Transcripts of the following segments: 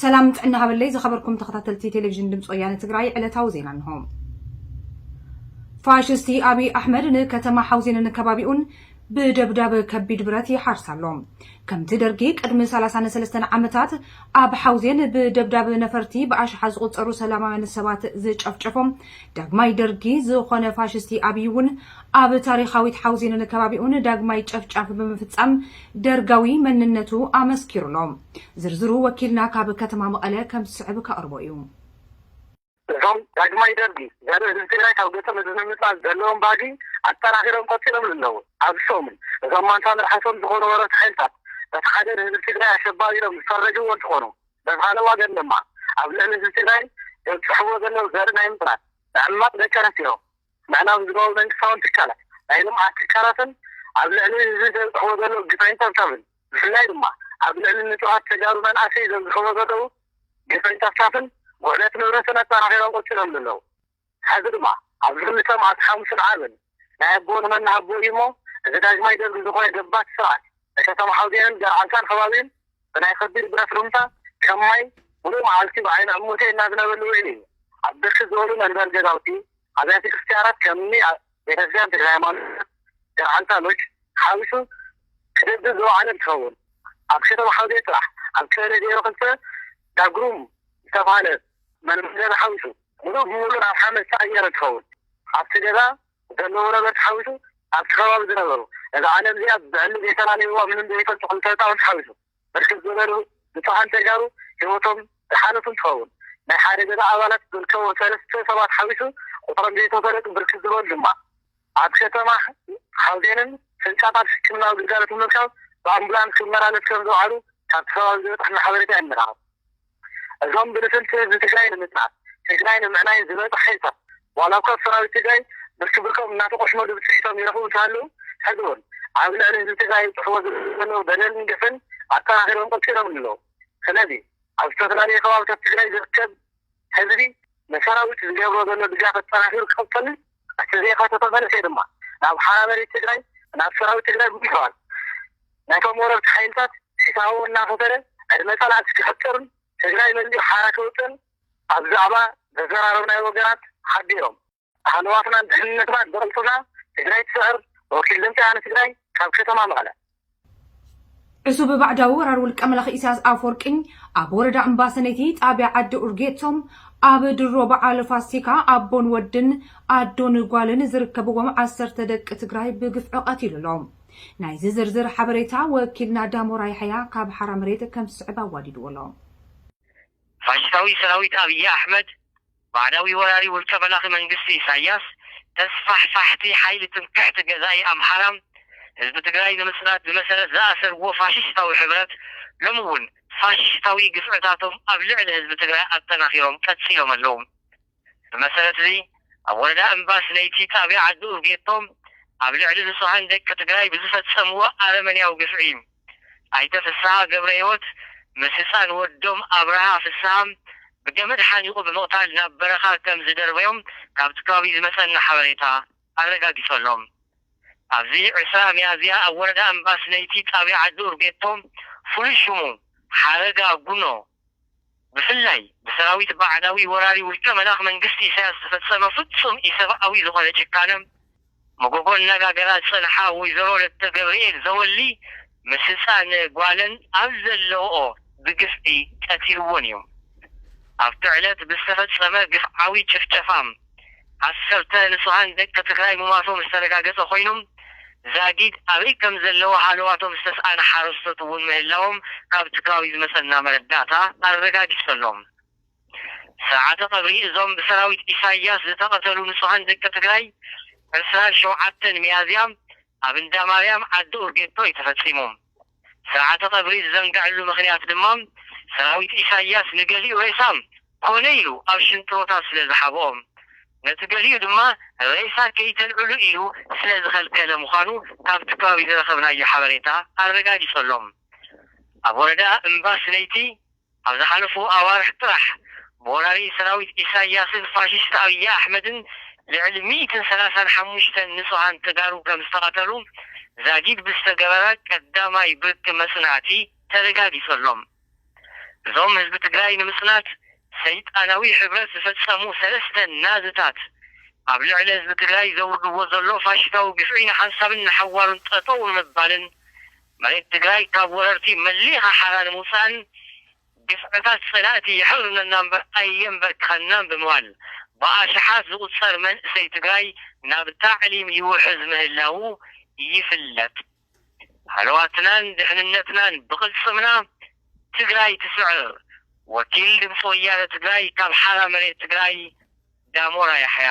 ሰላም ጥዕና ሃበለይ ዝኸበርኩም ተኸታተልቲ ቴሌቪዥን ድምፂ ወያነ ትግራይ ዕለታዊ ዜና እንሆ። ፋሽስቲ ኣብይ ኣሕመድ ንከተማ ሓውዜንን ከባቢኡን ብደብዳብ ከቢድ ብረት ይሓርስ ኣሎ ከምቲ ደርጊ ቅድሚ 33 ዓመታት ኣብ ሓውዜን ብደብዳብ ነፈርቲ ብኣሽሓ ዝቑፀሩ ሰላማውያን ሰባት ዝጨፍጨፎም ዳግማይ ደርጊ ዝኾነ ፋሽስቲ ኣብይ እውን ኣብ ታሪኻዊት ሓውዜንን ከባቢኡን ዳግማይ ጨፍጫፍ ብምፍፃም ደርጋዊ መንነቱ ኣመስኪሩ ኣሎ። ዝርዝሩ ወኪልና ካብ ከተማ መቐለ ከም ዝስዕብ ከቕርቦ እዩ። እዞም ዳግማይ ደርጊ ዘርኢ ህዝቢ ትግራይ ካብ ገፁ ንዝምምፃእ ዘለዎም ባዲ ኣጠናኺሮም ቀፂሎምሉ ኣለዉ። ኣብዚ ሰሙን እዞም ማንታ መልሓሶም ዝኾኑ ወረርቲ ሓይልታት በቲ ሓደ ንህዝቢ ትግራይ ኣሸባሪ ኢሎም ዝፈረጅዎ እንትኾኑ በዚ ኻልእ ዋገን ድማ ኣብ ልዕሊ ህዝቢ ትግራይ ዘብፅሕዎ ዘለዉ ዘርኢ ናይ ምፅናት፣ ምዕማፅ ደቂ ኣንስትዮ፣ ምዕናው ህዝባዊ መንግስታውን ትካላት ናይ ልምዓት ትካላትን ኣብ ልዕሊ ህዝቢ ዘብፅሕዎ ዘለዉ ግፍዕን ፀብፃብን ብፍላይ ድማ ኣብ ልዕሊ ንፁሃት ተጋሩ መንኣሰይ ዘብፅሕዎ ዘለዉ ግፍዕን ፀብፃብን ውዕለት ንብረትን ኣጠናኺሮም ቐፂሎምሉ ኣለዉ። ሐዚ ድማ ኣብዚ ክልተ መዓልቲ ሓሙስን ዓርብን ናይ ኣቦ ንመናሃቦ እዩሞ እዚ ዳግማይ ደርጊ ዝኾነ ገባቲ ስርዓት ንከተማ ሓውዜንን ገርዓልታን ኸባቢኡን ብናይ ከቢድ ብረት ሩምታ ከም ማይ ሙሉእ መዓልቲ ብዓይኒ ዕሙተይ እናዝነበሉ ውዒሉ እዩ። ኣብ ብርክት ዝበሉ መንበሪ ገዛውቲ፣ ኣብያተ ክርስትያናት ከም እኒ ቤተክርስትያን ተክለ ሃይማኖት፣ ገርዓልታ ሎጅ ሓዊሱ ክድብድብ ዝወዓለ እንትኸውን ኣብ ከተማ ሓውዜን ጥራሕ ኣብ ቀበሌ ዜሮ ክልተ ዳግሩም ዝተብሃለ መንበሪ ገዛ ሓዊሱ ሙሉእ ብሙሉእ ናብ ሓመድ ዝተቐየረ እንትኸውን ኣብቲ ገዛ ዘለዎ ነበርቲ ሓዊሱ ኣብቲ ከባቢ ዝነበሩ፣ እዛ ዓለም እዚኣ ብዕሊ ዘይተላለይዋ ምንም ዘይፈልጡ ክልተ ህፃውንቲ ሓዊሱ ብርክት ዝበሉ ንፁሃን ተጋሩ ህይወቶም ዝሓለፉ እንትኸውን ናይ ሓደ ገዛ ኣባላት ዝርከቦም ሰለስተ ሰባት ሓዊሱ ቁፅሮም ዘይተፈለጡ ብርክት ዝበሉ ድማ ኣብ ከተማ ሓውዜንን ህንፃታት ሕክምናዊ ግልጋሎት ንምርካብ ብኣምቡላንስ ክመላለሱ ከምዝውዓሉ ካብቲ ከባቢ ዝበፀሐና ሓበሬታ የመላኽት። እዞም ብልፍንቲ ህዝቢ ትግራይ ንምፅናት፣ ትግራይ ንምዕናይን ዝመፁ ሓይልታት ዋላ እኳ ብሰራዊት ትግራይ ብርኪ ብርኮም እናተቖሽመሉ ብፅሒቶም ይረኽቡ እንተሃለዉ ሕዚ እውን ኣብ ልዕሊ ህዝቢ ትግራይ ይብፅሕዎ ዘለዉ በደልን ግፍን ኣጠናኺሮም ቐፂሎምሉ ኣለዉ። ስለዚ ኣብ ዝተፈላለዩ ከባብታት ትግራይ ዝርከብ ህዝቢ ንሰራዊት ዝገብሮ ዘሎ ድጋፍ ኣጠናኺሩ ክቕፅልን እቲ ዘይሓተቶ መንእሰይ ድማ ናብ ሓራ መሬት ትግራይ ናብ ሰራዊት ትግራይ ብምሕባር ነቶም ወረርቲ ሓይልታት ሒሳቡ እናኸፈለ ዕድመ ፀላእቲ ክሕፅርን ትግራይ መሊኡ ሓራ ከውፅእን ኣብ ዛዕባ ዘዘራረብናዮ ወገናት ሓቢሮም። ሃለዋትናን ድሕንነትናን ብቕልፅምና ትግራይ ትስዕር ወኪል ድምፂ ወያነ ትግራይ ካብ ከተማ መቐለ። ዕሱብ ባዕዳዊ ወራር ውልቀ መላኺ ኢሳያስ ኣፈወርቂ ኣብ ወረዳ እምባሰነይቲ ጣብያ ዓዲ ኡርጌቶ ኣብ ድሮ በዓል ፋሲካ ኣቦን ወድን ኣዶን ጓልን ዝርከብዎም ዓሰርተ ደቂ ትግራይ ብግፍዒ ቀቲሉ ኣሎ። ናይዚ ዝርዝር ሓበሬታ ወኪልና ዳሞራ ያሕያ ካብ ሓራ መሬት ከም ዝስዕብ ኣዋዲድዎ ኣሎ። ፋሽስታዊ ሰራዊት ኣብይ ኣሕመድ ባዕዳዊ ወራሪ ውልቀ መላኺ መንግስቲ ኢሳያስ፣ ተስፋሕፋሕቲ ሓይሊ ትምክሕቲ ገዛኢ ኣምሓራን ህዝቢ ትግራይ ንምጽናት ብመሰረት ዝኣሰርዎ ፋሽሽታዊ ሕብረት፣ ሎሚ እውን ፋሽሽታዊ ግፍዕታቶም ኣብ ልዕሊ ህዝቢ ትግራይ ኣጠናኺሮም ቀጺሎም ኣለዉ። ብመሰረት'ዚ ኣብ ወረዳ እምባስ ለይቲ ጣብያ ዓዲ ኡርጌቶ ኣብ ልዕሊ ንጹሃን ደቂ ትግራይ ብዝፈጸምዎ ኣረመኔያዊ ግፍዒ፣ ኣይተ ፍስሃ ገብረሂወት ምስ ህፃን ወዶም ኣብርሃ ፍስሃ ብገመድ ሓኒቑ ብምቕታል ናብ በረኻ ከም ዝደርበዮም ካብቲ ከባቢ ዝመፀና ሓበሬታ ኣረጋጊፀሎም። ኣብዚ ዕስራ ሚያዝያ ኣብ ወረዳ እምባስነይቲ ጣብያ ዓዲ ኡርጌቶ ፍሉይ ሽሙ ሓረጋ ጉኖ፣ ብፍላይ ብሰራዊት ባዕዳዊ ወራሪ ውልቀ መላኽ መንግስቲ ኢሳያስ ዝፈጸመ ፍጹም ኢሰብኣዊ ዝኾነ ጭካነም መጎጎ እናጋገራ ዝጸንሓ ወይዘሮ ለተገብርኤል ዘወሊ ምስ ህጻን ጓለን ኣብ ዘለውኦ ብግፍዒ ቀቲልወን እዮም። ኣብቲ ዕለት ብዝተፈጸመ ግፍዓዊ ጭፍጨፋም። ዓሰርተ ንፁሃን ደቂ ትግራይ ምሟቶም ዝተረጋገፀ ኮይኑ ዛጊድ ኣበይ ከምዘለዉ ሃለዋቶም ዝተስኣነ ሓረስቶት እውን ምህላዎም ካብቲ ከባቢ ዝመፀና መረዳእታ ኣረጋጊፁ ኣሎ። ስርዓተ ቀብሪ እዞም ብሰራዊት ኢሳያስ ዝተቐተሉ ንፁሃን ደቂ ትግራይ ዕስራን ሸውዓተን ሚያዝያ ኣብ እንዳማርያም ዓዲ ኡርጌቶ እዩ ተፈፂሙ። ስርዓተ ቀብሪ ዝዘንገዐሉ ምኽንያት ድማ ሰራዊት ኢሳይያስ ንገሊኡ ሬሳ ኮነ ኢሉ ኣብ ሽንጥሮታት ስለ ዝሓብኦም ነቲ ገሊኡ ድማ ሬሳ ከይተልዕሉ ኢሉ ስለ ዝኸልከለ ምዃኑ ካብቲ ከባቢ ዝረኸብናዮ ሓበሬታ ኣረጋጊጸሎም ኣብ ወረዳ እምባ ስለይቲ ኣብ ዝሓለፉ ኣዋርሕ ጥራሕ፣ ብወራሪ ሰራዊት ኢሳይያስን ፋሽስት ኣብይ ኣሕመድን ልዕሊ ሚእትን ሰላሳን ሓሙሽተን ንጹሃን ተጋሩ ከምዝተቐተሉ ዛጊድ ብዝተገበረ ቀዳማይ ብርኪ መጽናዕቲ ተረጋጊጸሎም። እዞም ህዝቢ ትግራይ ንምጽናት ሰይጣናዊ ሕብረት ዝፈጸሙ ሰለስተ ናዝታት ኣብ ልዕሊ ህዝቢ ትግራይ ዘውርድዎ ዘሎ ፋሽታዊ ግፍዒ ንሓንሳብን ንሓዋሩን ጠጠው ንምባልን መሬት ትግራይ ካብ ወረርቲ መሊኻ ሓራ ንምውፃእን ግፍዕታት ፀላእቲ የሕሩነና እምበር ኣየምበርከኸናን ብምባል ብኣሽሓት ዝቑፀር መንእሰይ ትግራይ ናብ ታዕሊም ይውሕዝ ምህላዉ ይፍለጥ። ሃለዋትናን ድሕንነትናን ብቕልፅምና ትግራይ ትስዕር! ወኪል ድምፂ ወያነ ትግራይ ካብ ሓራ መሬት ትግራይ ዳሞራ ያሕያ።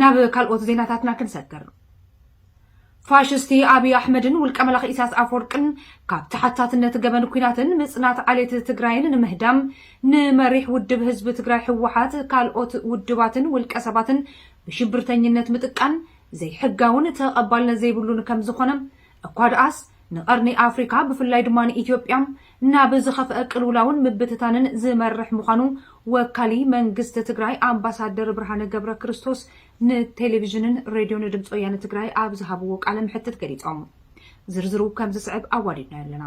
ናብ ካልኦት ዜናታትና ክንሰግር ፋሽስቲ ኣብዪ ኣሕመድን ውልቀ መላኺ ኢሳያስ ኣፈወርቅን ካብ ተሓታትነት ገበን ኩናትን ምጽናት ዓሌት ትግራይን ንምህዳም ንመሪሕ ውድብ ህዝቢ ትግራይ ህወሓት ካልኦት ውድባትን ውልቀ ሰባትን ብሽብርተኝነት ምጥቃን ዘይሕጋውን ተቐባልነት ዘይብሉን ከም ዝኾነ እኳ ደኣስ ንቀርኒ ኣፍሪካ ብፍላይ ድማ ንኢትዮጵያ ናብ ዝኸፍአ ቅልውላውን ምብትታንን ዝመርሕ ምዃኑ ወካሊ መንግስቲ ትግራይ ኣምባሳደር ብርሃነ ገብረክርስቶስ ንቴሌቪዥንን ሬድዮን ድምፂ ወያነ ትግራይ ኣብ ዝሃብዎ ቃለ መሕትት ገሊፆም። ዝርዝሩ ከምዝስዕብ ኣዋዲድናዮ ኣለና።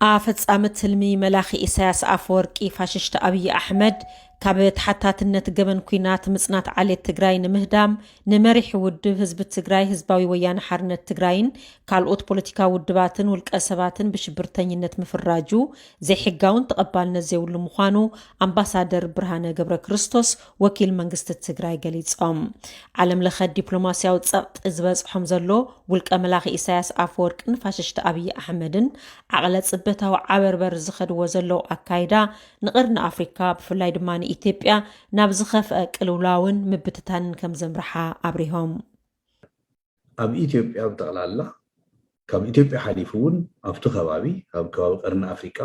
ኣፈጻሚ ትልሚ መላኺ ኢሳያስ ኣፈወርቂ ፋሽሽቲ ኣብይ ኣሕመድ ካብ ተሓታትነት ገበን ኩናት ምጽናት ዓሌት ትግራይ ንምህዳም ንመሪሕ ውድብ ህዝቢ ትግራይ ህዝባዊ ወያነ ሓርነት ትግራይን ካልኦት ፖለቲካዊ ውድባትን ውልቀ ሰባትን ብሽብርተኝነት ምፍራጁ ዘይሕጋውን ተቐባልነት ዘይብሉ ምዃኑ ኣምባሳደር ብርሃነ ገብረ ክርስቶስ ወኪል መንግስቲ ትግራይ ገሊፆም። ዓለም ለኸ ዲፕሎማስያዊ ፀቕጢ ዝበፅሖም ዘሎ ውልቀ መላኺ ኢሳያስ ኣፈወርቅን ፋሽሽቲ ኣብዪ ኣሕመድን ዓቕለ ፅበታዊ ዓበርበር ዝኸድዎ ዘለዉ ኣካይዳ ንቐርኒ ኣፍሪካ ብፍላይ ድማ ንኢትዮጵያ ናብ ዝኸፍአ ቅልውላውን ምብትታንን ከም ዘምርሓ ኣብሪሆም። ኣብ ኢትዮጵያ ብጠቕላላ ካብ ኢትዮጵያ ሓሊፉ እውን ኣብቲ ከባቢ ኣብ ከባቢ ቀርኒ ኣፍሪቃ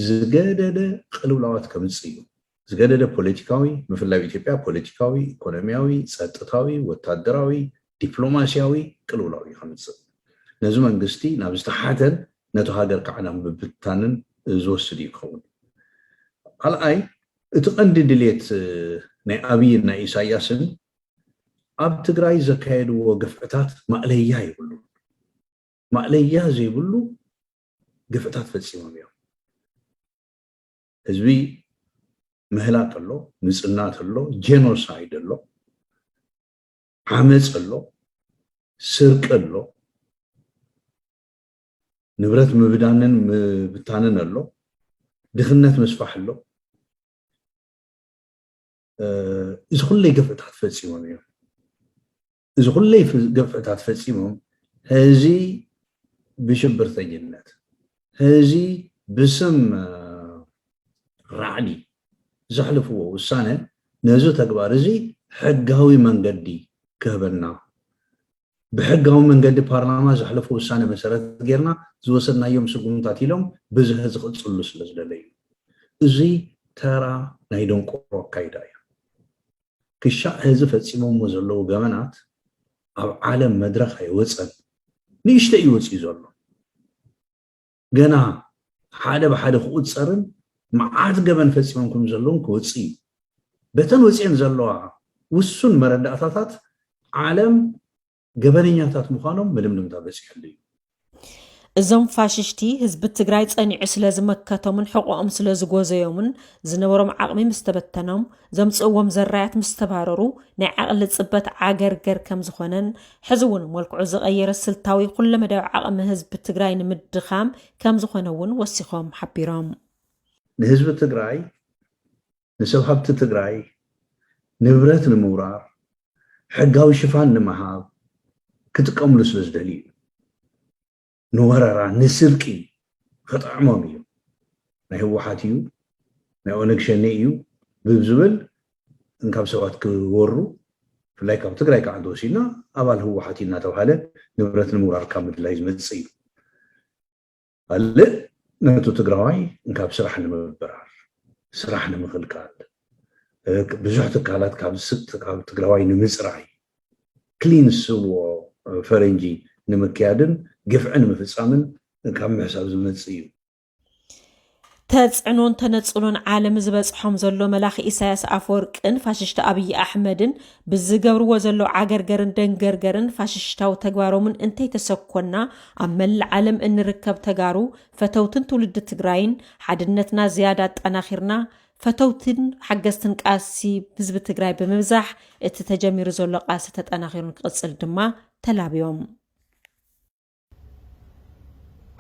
ዝገደደ ቅልውላዋት ከምጽእ እዩ። ዝገደደ ፖለቲካዊ ምፍላይ ኢትዮጵያ ፖለቲካዊ፣ ኢኮኖሚያዊ፣ ጸጥታዊ፣ ወታደራዊ፣ ዲፕሎማሲያዊ ቅልውላው እዩ ከምጽእ። ነዚ መንግስቲ ናብ ዝተሓተን ነቶ ሃገር ከዓ ናብ ምብትታንን ዝወስድ እዩ ክኸውን። ካልኣይ እቲ ቀንዲ ድሌት ናይ ኣብይን ናይ ኢሳያስን ኣብ ትግራይ ዘካየድዎ ግፍዕታት ማእለያ የብሉን። ማእለያ ዘይብሉ ግፍዕታት ፈጺሞም እዮም። ህዝቢ ምህላቅ ኣሎ፣ ምጽናት ኣሎ፣ ጄኖሳይድ ኣሎ፣ ዓመፅ ኣሎ፣ ስርቂ ኣሎ፣ ንብረት ምብዳንን ምብታንን ኣሎ፣ ድኽነት ምስፋሕ ኣሎ። እዚ ኩለይ ግፍዕታት ፈፂሞም እዮም። እዚ ኩለይ ግፍዕታት ፈፂሞም ህዚ ብሽብርተኝነት ህዚ ብስም ራዕዲ ዘሕልፍዎ ውሳነ ነዚ ተግባር እዚ ሕጋዊ መንገዲ ክህበና ብሕጋዊ መንገዲ ፓርላማ ዘሕለፉ ውሳነ መሰረት ጌርና ዝወሰድናዮም ስጉምታት ኢሎም ብዝሀ ዝቕፅሉ ስለ ዝደለዩ እዚ ተራ ናይ ደንቆሮ ኣካይዳ እዩ ክሻዕ ሕዚ ፈጺሞሞ ዘለዉ ገበናት ኣብ ዓለም መድረኽ ኣይወጸን። ንእሽተይ እዩ ወጺኡ ዘሎ። ገና ሓደ ብሓደ ክቑጸርን መዓት ገበን ፈጺሞም ከም ዘለዉን ክወጽእ እዩ። በተን ወጺኤን ዘለዋ ውሱን መረዳእታታት ዓለም ገበነኛታት ምዃኖም ምልምልምታ በፂሕሉ እዩ። እዞም ፋሽሽቲ ህዝቢ ትግራይ ጸኒዑ ስለ ዝመከቶምን ሕቖኦም ስለ ዝጎዘዮምን ዝነበሮም ዓቕሚ ምስ ተበተኖም ዘምጽእዎም ዘራያት ምስ ተባረሩ ናይ ዓቕሊ ጽበት ዓገርገር ከም ዝኾነን ሕዚ እውን መልክዑ ዝቐየረ ስልታዊ ኩለመዳዊ ዓቕሚ ህዝቢ ትግራይ ንምድኻም ከም ዝኾነ እውን ወሲኾም ሓቢሮም። ንህዝቢ ትግራይ ንሰብ ሃብቲ ትግራይ ንብረት ንምውራር ሕጋዊ ሽፋን ንምሃብ ክጥቀምሉ ስለ ዝደልዩ እዩ። ንወረራ ንስርቂ ክጥዕሞም እዩ። ናይ ህወሓት እዩ ናይ ኦነግ ሸኔ እዩ ብዝብል እንካብ ሰባት ክወሩ ብፍላይ ካብ ትግራይ ከዓ እንተወሲድና ኣባል ህወሓት እዩ እናተባሃለ ንብረት ንምውራር ካብ ምድላይ ዝመፅእ እዩ። ካልእ ነቱ ትግራዋይ እንካብ ስራሕ ንምብራር ስራሕ ንምኽልካል ብዙሕ ትካላት ካብ ዝስጥ ካብ ትግራዋይ ንምፅራይ ክሊንስዎ ፈረንጂ ንምክያድን ግፍዕን ምፍፃምን ካብ ምሕሳብ ዝመፅ እዩ። ተጽዕኖን ተነጽሎን ዓለም ዝበጽሖም ዘሎ መላኺ ኢሳያስ ኣፈወርቅን ፋሽሽቲ ኣብይ ኣሕመድን ብዝገብርዎ ዘለዉ ዓገርገርን ደንገርገርን ፋሽሽታዊ ተግባሮምን እንተይተሰኮና ኣብ መላእ ዓለም እንርከብ ተጋሩ ፈተውትን ትውልዲ ትግራይን ሓድነትና ዝያዳ ኣጠናኺርና ፈተውትን ሓገዝትን ቃልሲ ህዝቢ ትግራይ ብምብዛሕ እቲ ተጀሚሩ ዘሎ ቃልሲ ተጠናኺሩን ክቕጽል ድማ ተላብዮም።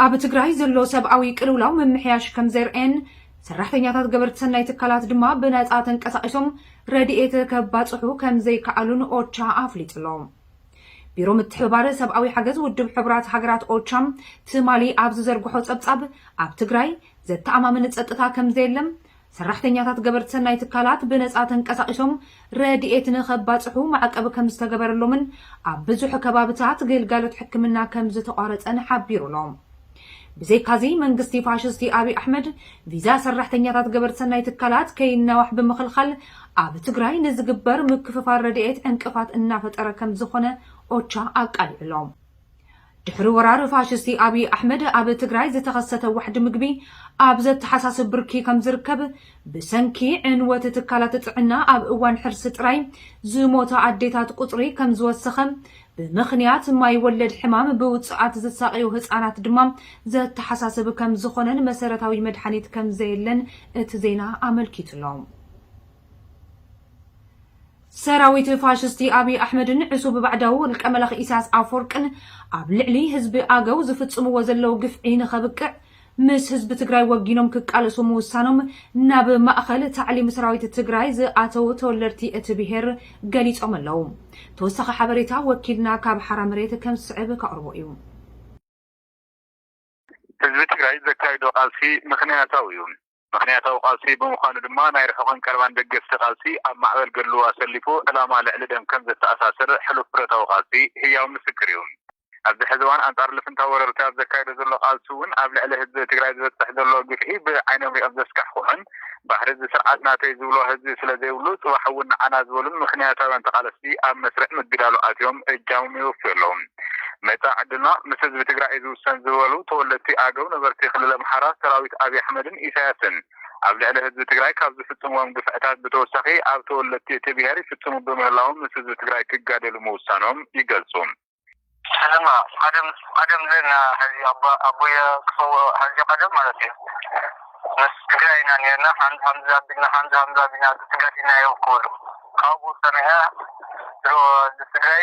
ኣብ ትግራይ ዘሎ ሰብኣዊ ቅልውላው ምምሕያሽ ከም ዘርኤን ሰራሕተኛታት ገበርቲ ሰናይ ትካላት ድማ ብነፃ ተንቀሳቒሶም ረድኤት ከባፅሑ ከም ዘይከኣሉን ኦቻ ኣፍሊጡ ኣሎ። ቢሮ ምትሕብባር ሰብኣዊ ሓገዝ ውድብ ሕቡራት ሃገራት ኦቻ ትማሊ ኣብ ዝዘርግሖ ጸብጻብ ኣብ ትግራይ ዘተኣማምን ጸጥታ ከም ዘየለ ሰራሕተኛታት ገበርቲ ሰናይ ትካላት ብነጻ ተንቀሳቒሶም ረድኤት ንኸባጽሑ ማዕቀብ ከምዝተገበረሎምን ኣብ ብዙሕ ከባብታት ግልጋሎት ሕክምና ከምዝተቋረጸን ሓቢሩ ኣሎ። ብዘይካዚ መንግስቲ ፋሽስቲ ኣብይ ኣሕመድ ቪዛ ሰራሕተኛታት ገበርቲ ሰናይ ትካላት ከይናዋሕ ብምኽልኻል ኣብ ትግራይ ንዝግበር ምክፍፋል ረድኤት ዕንቅፋት እናፈጠረ ከምዝኾነ ኦቻ ኣቃሊዑ ኣሎ። ድሕሪ ወራር ፋሽስቲ ኣብይ ኣሕመድ ኣብ ትግራይ ዝተኸሰተ ዋሕዲ ምግቢ ኣብ ዘተሓሳስብ ብርኪ ከምዝርከብ ብሰንኪ ዕንወት ትካላት ጥዕና ኣብ እዋን ሕርሲ ጥራይ ዝሞታ ኣዴታት ቁፅሪ ከምዝወሰኸ ብምኽንያት ማይ ወለድ ሕማም ብውፅኣት ዝሳቐዩ ህፃናት ድማ ዘተሓሳስብ ከምዝኾነን መሰረታዊ መድሓኒት ከምዘየለን እቲ ዜና ኣመልኪቱ'ሎ። ሰራዊት ፋሽስቲ ኣብይ ኣሕመድን ዕሱብ ባዕዳዊ ውልቀ መላኺ ኢሳያስ ኣፎርቅን ኣብ ልዕሊ ህዝቢ ኣገው ዝፍጽምዎ ዘለው ግፍዒ ንኸብቅዕ ምስ ህዝቢ ትግራይ ወጊኖም ክቃለሱ ምውሳኖም ናብ ማእኸል ታዕሊም ሰራዊት ትግራይ ዝኣተው ተወለድቲ እቲ ብሄር ገሊጾም ኣለው። ተወሳኺ ሓበሬታ ወኪልና ካብ ሓራ መሬት ከም ዝስዕብ ከቕርቦ እዩ። ህዝቢ ትግራይ ዘካይዶ ቃልሲ ምኽንያታዊ እዩ። ምኽንያታዊ ቃልሲ ብምዃኑ ድማ ናይ ርሑቕን ቀረባን ደገፍቲ ቃልሲ ኣብ ማዕበል ገድሉ ኣሰሊፉ ዕላማ ልዕሊ ደም ከም ዘተኣሳስር ሕሉፍ ብረታዊ ቃልሲ ህያው ምስክር እዩ። ኣብዚ ሕዚ እዋን ኣንጻር ልፍንታዊ ወረርቲ ኣብ ዘካይዶ ዘሎ ቃልሲ እውን ኣብ ልዕሊ ህዝቢ ትግራይ ዝበጽሕ ዘሎ ግፍዒ ብዓይኖም ሪኦም ዘስካሕክሑን ባህሪ እዚ ስርዓት ናተይ ዝብሎ ህዝቢ ስለ ዘይብሉ ጽባሕ እውን ንዓና ዝበሉን ምኽንያታውያን ተቓለስቲ ኣብ መስርዕ ምግዳሉ ኣትዮም እጃሞም የወፍዩ ኣለዉ። መጻኢ ዕድልና ምስ ህዝቢ ትግራይ እዩ ዝውሰን ዝበሉ ተወለድቲ ኣገው ነበርቲ ክልል ኣምሓራ ሰራዊት ኣብይ ኣሕመድን ኢሳያስን ኣብ ልዕሊ ህዝቢ ትግራይ ካብ ዝፍፅምዎም ግፍዕታት ብተወሳኺ ኣብ ተወለድቲ እቲ ብሄር ይፍፅሙ ብምህላዎም ምስ ህዝቢ ትግራይ ክጋደሉ ምውሳኖም ይገልፁ። ሕዝና ቀደም ቀደም ኔርና ሕዚ ኣቦየ ክሰውኦ ሕዚ ቀደም ማለት እዩ ምስ ትግራይ ኢና ኔርና ሓምዚ ሓምዚ ኣቢልና ሓምዚ ሓምዚ ኣቢልና ተጋዲልናዮ ክብሉ ካብኡ ሰሚዐ ድሮ ህዝቢ ትግራይ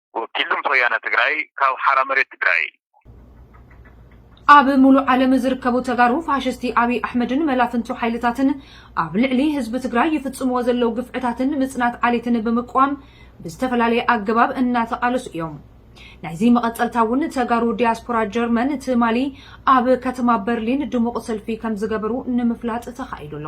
ወኪል ድምፂ ወያነ ትግራይ ካብ ሓራ መሬት ትግራይ። ኣብ ሙሉእ ዓለም ዝርከቡ ተጋሩ ፋሽስቲ ኣብይ ኣሕመድን መላፍንቱ ሓይልታትን ኣብ ልዕሊ ህዝቢ ትግራይ ይፍፅምዎ ዘለው ግፍዕታትን ምፅናት ዓሌትን ብምቅዋም ብዝተፈላለየ ኣገባብ እናተቓለሱ እዮም። ናይዚ መቐፀልታ እውን ተጋሩ ዲያስፖራ ጀርመን ትማሊ ኣብ ከተማ በርሊን ድሙቕ ሰልፊ ከምዝገበሩ ንምፍላጥ ተኻኢሉ ኣሎ።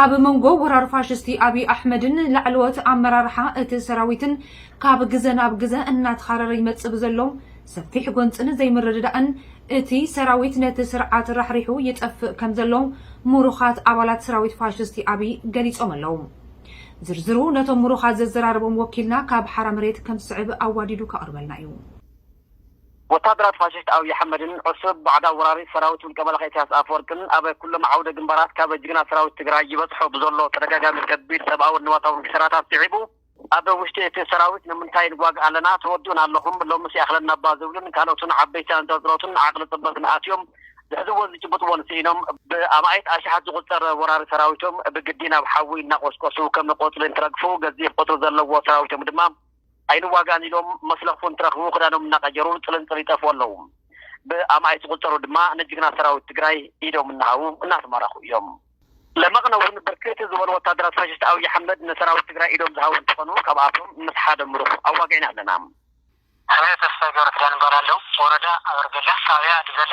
ኣብ መንጎ ወራር ፋሽስቲ ኣብይ ኣሕመድን ላዕለዎት ኣመራርሓ እቲ ሰራዊትን ካብ ግዘ ናብ ግዘ እናተኻረረ ይመፅእ ብዘሎ ሰፊሕ ጎንፅን ዘይምርድዳእን እቲ ሰራዊት ነቲ ስርዓት ራሕሪሑ ይጠፍእ ከም ዘሎ ምሩኻት ኣባላት ሰራዊት ፋሽስቲ ኣብይ ገሊፆም ኣለው። ዝርዝሩ ነቶም ምሩኻት ዘዘራረቦም ወኪልና ካብ ሓራ መሬት ከም ዝስዕብ ኣዋዲዱ ከቕርበልና እዩ። ወታደራት ፋሽስት ኣብይ ኣሕመድን ዑሱብ ባዕዳዊ ወራሪ ሰራዊት ውልቀ መላኺ እሰያስ ኣፈወርቅን ኣብ ኩሎም ዓውደ ግንባራት ካብ ጅግና ሰራዊት ትግራይ ይበፅሖ ብዘሎ ተደጋጋሚ ከቢድ ሰብኣውን ንዋታውን ኪሳራታት ስዒቡ ኣብ ውሽጢ እቲ ሰራዊት ንምንታይ ንጓግ ኣለና ተወድኡና ኣለኹም ሎምስ ይኣኽለናባ ዝብሉን ካልኦትን ዓበይቲ ኣንፀርፅሮትን ዓቕሊ ፅበትን ኣትዮም ዝሕዝዎን ዝጭብጥዎን ስኢኖም ብኣማኢት ኣሽሓት ዝቑፀር ወራሪ ሰራዊቶም ብግዲ ናብ ሓዊ እናቖስቆሱ ከም ቆፅሊ እንትረግፉ ገዚፍ ቑፅሪ ዘለዎ ሰራዊቶም ድማ ኣይንዋጋእን ኢሎም መስለኽፉ እንትረኽቡ ክዳኖም እናቐየሩ ፅልንፅል ይጠፍኡ ኣለው። ብኣማኢት ዝቑፀሩ ድማ ንጅግና ሰራዊት ትግራይ ኢዶም እናሃቡ እናተማረኹ እዮም። ለመቕነ እውን ብርክት ዝበሉ ወታደራት ፋሽስት ኣብይ ኣሕመድ ንሰራዊት ትግራይ ኢዶም ዝሃቡ እንትኾኑ ካብኣቶም ምስ ሓደ ምሩኽ ኣዋጊዕና ኣለና። ኣበይ ተስፋይ ገብረኪዳን እባላለሁ ወረዳ ኣበርገለ ጣብያ ኣዲበለ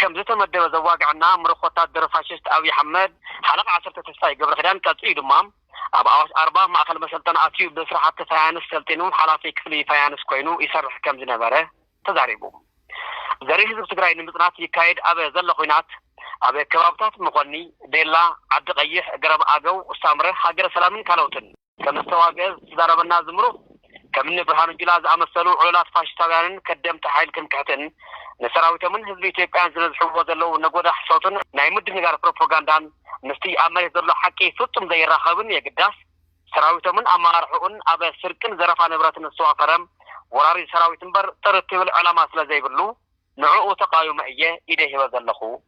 ከምዝተመደበ ዘዋግዐና ምሩኽ ወታደር ፋሽስት ኣብይ ኣሕመድ ሓለቓ ዓሰርተ ተስፋይ ገብረኪዳን ቀጺኡ ድማ ኣብ ኣዋሽ ኣርባ ማእኸል መሰልጠኒ ኣትዩ ብስራሕቲ ፋያንስ ሰልጢኑ ሓላፊ ክፍሊ ፋያንስ ኮይኑ ይሰርሕ ከምዝነበረ ተዛሪቡ። ዘርኢ ህዝቢ ትግራይ ንምፅናት ይካየድ ኣብ ዘሎ ኹናት ኣብ ከባብታት መኾኒ፣ ቤላ፣ ዓዲ ቐይሕ፣ ገረብ ኣገው፣ ሳምረ፣ ሃገረ ሰላምን ካልኦትን። ከም ዝተዋግኤ ዝተዛረበና እዚ ምሩኽ፣ ከም እኒ ብርሃኑ ጁላ ዝኣመሰሉ ዑሉላት ፋሽስታውያንን ከደምቲ ሓይል ትምክሕትን፣ ንሰራዊቶምን ህዝቢ ኢትዮጵያን ዝነዝሕዎ ዘለዉ ነጎዳ ሕሶትን ናይ ምድንጋር ፕሮፖጋንዳን ምስቲ ኣብ መሬት ዘሎ ሓቂ ፍጹም ዘይራኸብን የግዳስ ሰራዊቶምን ኣመራርሕኡን ኣብ ስርቅን ዘረፋ ንብረትን ዝተዋፈረ ወራሪ ሰራዊት እምበር ጥርት ይብል ዕላማ ስለዘይብሉ ንዕኡ ተቓዊመ እየ ኢደይ ሂበ ዘለኹ።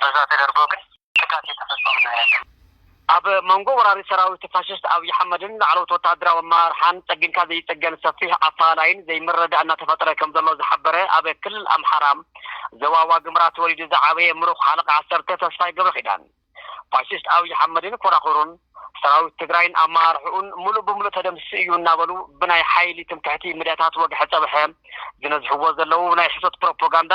በዛ ተደርጎ ግን ጥቃት የተፈጸሙ ነው ያለው። ኣብ መንጎ ወራሪ ሰራዊት ፋሽስት ኣብይ ኣሕመድን ላዕለዎት ወተሃደራዊ ኣመራርሓን ጸጊንካ ዘይጽገን ሰፊሕ ኣፈላላይን ዘይምርድዳእ እናተፈጠረ ከምዘሎ ዝሓበረ ኣብ ክልል ኣምሓራ ዞባ ዋግምራ ተወሊዱ ዝዓበየ ምሩኽ ሓለቓ ዓሰርተ ተስፋይ ገብረኪዳን ፋሽስት ኣብይ ኣሕመድን ኮራኹሩን ሰራዊት ትግራይን ኣመራርሕኡን ምሉእ ብምሉእ ተደምሲሱ እዩ እናበሉ ብናይ ሓይሊ ትምክሕቲ ሚድያታት ወግሐ ጸብሐ ዝነዝሕዎ ዘለዉ ናይ ሕሶት ፕሮፖጋንዳ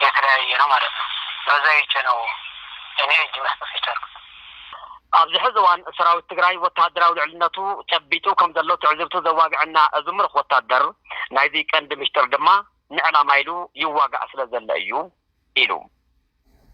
የተለያየ ነው ማለት ነው በዛ አይቸ ነው እኔ እጅ መስጠት የቻልኩት። ኣብዚ ሕዚ እዋን ሰራዊት ትግራይ ወተሃደራዊ ልዕልነቱ ጨቢጡ ከምዘሎ ትዕዝብቱ ዘዋግዐና እዚ ምሩኽ ወታደር ናይዚ ቀንዲ ምሽጥር ድማ ንዕላማ ኢሉ ይዋጋእ ስለዘሎ እዩ ኢሉ።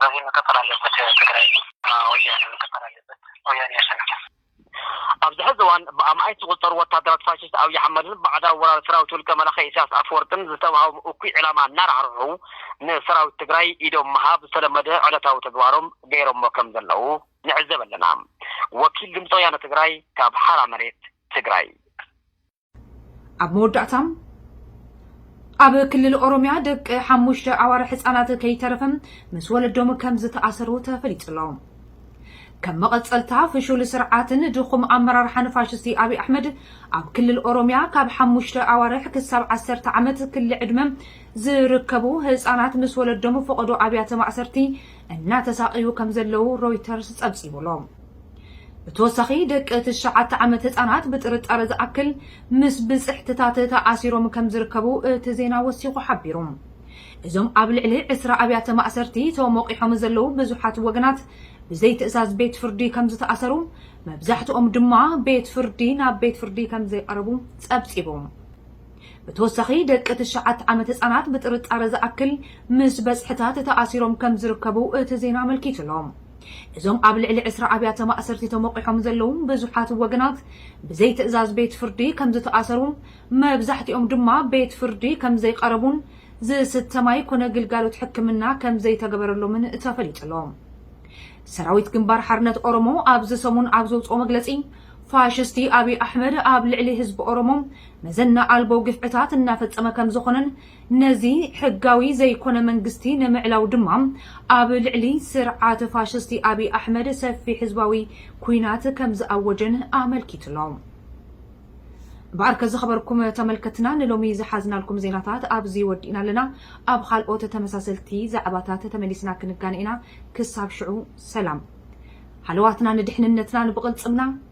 በዚ መቀጠል ኣለበት ትግራይ ወያነ መቀጠል ኣለበት ወያነ ያሸንፍ። ኣብዚ ሕዚ እዋን ብኣማኢት ዝቑፀሩ ወታደራት ፋሽስት ኣብይ ኣሕመድን ባዕዳዊ ወራሪ ሰራዊት ውልቀ መላኺ ኢሳያስ ኣፈወርቅን ዝተውሃቦም እኩይ ዕላማ እናራሕርሑ ንሰራዊት ትግራይ ኢዶም ምሃብ ዝተለመደ ዕለታዊ ተግባሮም ገይሮሞ ከም ዘለው ንዕዘብ ኣለና። ወኪል ድምፂ ወያነ ትግራይ ካብ ሓራ መሬት ትግራይ። ኣብ መወዳእታ ኣብ ክልል ኦሮሚያ ደቂ ሓሙሽተ ኣዋርሕ ህፃናት ከይተረፈ ምስ ወለዶም ከም ዝተኣሰሩ ተፈሊጡ ኣሎ። ከም መቐፀልታ ፍሹል ስርዓትን ድኹም ኣመራርሓን ፋሽስቲ ኣብይ ኣሕመድ ኣብ ክልል ኦሮሚያ ካብ ሓሙሽተ ኣዋርሕ ክሳብ ዓሰርተ ዓመት ክሊ ዕድመ ዝርከቡ ህፃናት ምስ ወለዶም ፈቐዶ ኣብያተ ማእሰርቲ እናተሳቐዩ ከም ዘለዉ ሮይተርስ ፀብፂቡ ኣሎ። ብተወሳኺ ደቂ ትሽዓተ ዓመት ህፃናት ብጥርጣረ ዝኣክል ምስ ብፅሕትታት ተኣሲሮም ከምዝርከቡ እቲ ዜና ወሲኹ ሓቢሩ። እዞም ኣብ ልዕሊ ዕስራ ኣብያተ ማእሰርቲ ተሞቂሖም ዘለዉ ብዙሓት ወገናት ብዘይ ትእዛዝ ቤት ፍርዲ ከምዝተኣሰሩ መብዛሕትኦም ድማ ቤት ፍርዲ ናብ ቤት ፍርዲ ከምዘይቐረቡ ፀብፂቡ። ብተወሳኺ ደቂ ትሽዓተ ዓመት ህፃናት ብጥርጣረ ዝኣክል ምስ በፅሕታት ተኣሲሮም ከምዝርከቡ እቲ ዜና ኣመልኪቱ'ሎ። እዞም ኣብ ልዕሊ ዕስራ ኣብያተ ማእሰርቲ ተሞቚሖም ዘለዉ ብዙሓት ወገናት ብዘይትእዛዝ ቤት ፍርዲ ከምዝተኣሰሩ መብዛሕቲኦም ድማ ቤት ፍርዲ ከምዘይቐረቡን ዝስተ ማይ ኮነ ግልጋሎት ሕክምና ከምዘይተገበረሎምን ተፈሊጡ'ሎ። ሰራዊት ግንባር ሓርነት ኦሮሞ ኣብዚ ሰሙን ኣብ ዘውፅኦ መግለፂ ፋሽስቲ ኣብይ ኣሕመድ ኣብ ልዕሊ ህዝቢ ኦሮሞ መዘና ኣልቦ ግፍዕታት እናፈጸመ ከምዝኾነን ነዚ ሕጋዊ ዘይኮነ መንግስቲ ንምዕላው ድማ ኣብ ልዕሊ ስርዓት ፋሽስቲ ኣብይ ኣሕመድ ሰፊሕ ህዝባዊ ኩናት ከምዝኣወጀን ኣመልኪቱ'ሎ። እምበኣርከ ዝኸበርኩም ተመልከትና ንሎሚ ዝሓዝናልኩም ዜናታት ኣብዚ ወዲእና ኣለና። ኣብ ኻልኦት ተመሳሰልቲ ዛዕባታት ተመሊስና ክንጋነ ኢና። ክሳብ ሽዑ ሰላም። ሃለዋትና ንድሕንነትናን ብቕልጽምና